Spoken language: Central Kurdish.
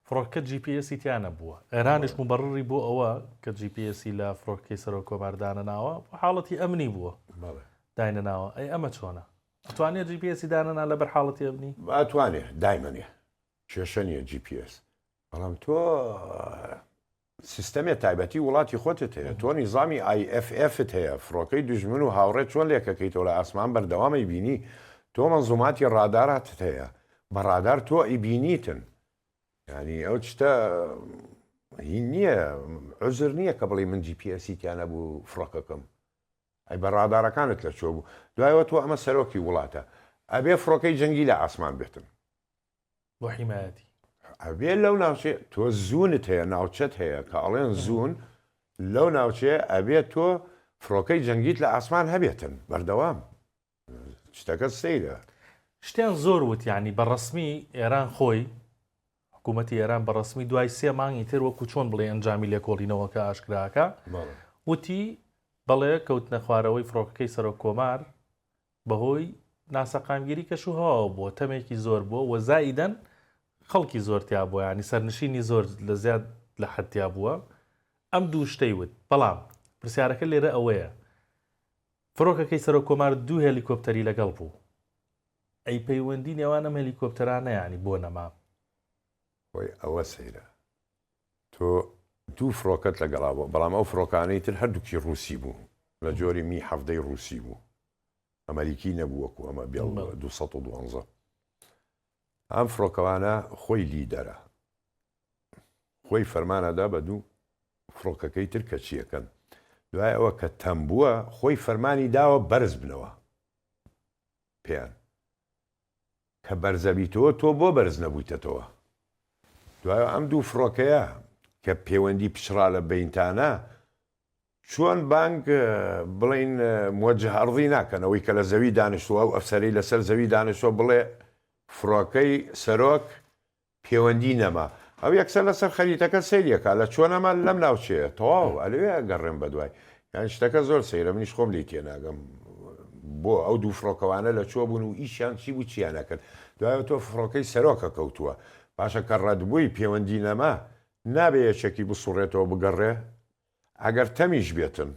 فڕۆکەکە جی پی ئێسی تیا نەبووە، ئێرانیش موبەڕری بۆ ئەوە کە جی پی ئێسی لە فڕۆکەکەی سەرۆک کۆمار دانەناوە بۆ حاڵەتی ئەمنی بووە داینەناوە، ئەی ئەمە چۆنە؟ ئەتوانێ جی پی ئێسی دانەنا لەبەر حاڵەتی ئەمنی؟ ئەتوانێ دایمەنێ کێشە نیە جی پی ئێس بەڵام تۆ سیستەمێ تایبەتی وڵاتی خۆتت هەیە تۆ نیزامی IFF ت هەیە فڕۆکەی دوژمن و هاوڕێت چۆن لێکەکەیتەوە لە ئاسمان بەردەوام ئەیبینی تۆ مەنزوماتی ڕاداراتت هەیە بە ڕادار تۆ ئەیبینیتن یانی ئەو شتە هین نییە عوزر نییە کە بڵی من GPS تیا نەبوو فڕۆکەکەم ئەی بە ڕادارەکانت لە چۆ بوو دوایەوە تۆ ئەمە سەرۆکی وڵاتە ئەبێ فڕۆکەی جەنگی لە ئاسمان بێتن بۆ حیمایەتی ئەبێ لەو ناوچێ تۆ زوونت هەیە ناوچەت هەیە کە ئەڵێن زوون لەو ناوچێ ئەبێت تۆ فڕۆکەی جەنگیت لە ئاسمان هەبێتن بەردەوام شتەکە سەیرە شتیان زۆر وتیانی بە ڕسمی ئێران خۆی حکوومەتتی ئێران بە ڕسمی دوای سێ مانگی تر وەکو چۆن بڵێ ئەنجامی لێکۆڵینەوەکە ئاشکراکە وتی بەڵێ کەوتنە خوارەوەی فڕۆکەکەی سەرۆک کۆمار بەهۆی ناسەقامگیری کەش و هەواوە بووە، تەمێکی زۆر بووە و زائیدەن خەڵکی زۆر تیا بووە، یانی سەرنشینی زۆر لە زیاد لە حەد تیا بووە، ئەم دوو شتەی وت، بەڵام پرسیارەکە لێرە ئەوەیە، فرۆکەکەی سەرۆک کۆمار دوو هێلیکۆپتەری لەگەڵ بوو، ئەی پەیوەندی نێوان ئەم هێلیکۆپتەرانە یانی بۆ نەما؟ خۆی ئەوە سەیرە، تۆ دوو فڕۆکەت لەگەڵا بووە، بەڵام ئەو فڕۆکانەی تر هەردووکی ڕووسی بوو، لە جۆری می حەڤدە ی ڕووسی بوو، ئەمەریکی نەبوو وەکوو ئەمە بێڵ دوو سەد و دوازدە. ئەم فڕۆکەوانە خۆی لیدەرە، خۆی فەرمان ئەدا بە دوو فڕۆکەکەی تر کە چییەکەن. دوای ئەوە کە تەمبووە، خۆی فەرمانی داوە بەرز بنەوە پێیان. کە بەرزەبیتەوە تۆ بۆ بەرز نەبویتەتەوە دوایە ئەم دوو فڕۆکەیە کە پێوەندی پچڕا لە بەینتانە چۆن بانگ بڵین موجه ئەڕضی ناکەن ئەوەی کە لە زەوی دانیشتووە و ئەفسەری لەسەر زەوی دانیشتوە بڵێ فڕۆکەی سەرۆک پێوەندی نەما ئەو یەکسەر لەسەر خەریتەکە سەیری ئەکا لە چۆن ئەمە لەم ناوچەیە تەواو ئەلەوێ ئەگەڕێم بەدوای یان شتەکە زۆر سەیرە منیش خۆم لێی تێناگەم بۆ ئەو دوو فڕۆکەوانە لە کوێ بوون و ئیشیان چی بوو چیان ئەکرد دوای ئەوتۆ فڕۆکەی سەرۆکە کەوتووە باشە کە ڕەتبووی پێوەندی نەما نابێ یەکێکی بسوڕێتەوە بگەڕێ ئەگەر تەمیش بێتن.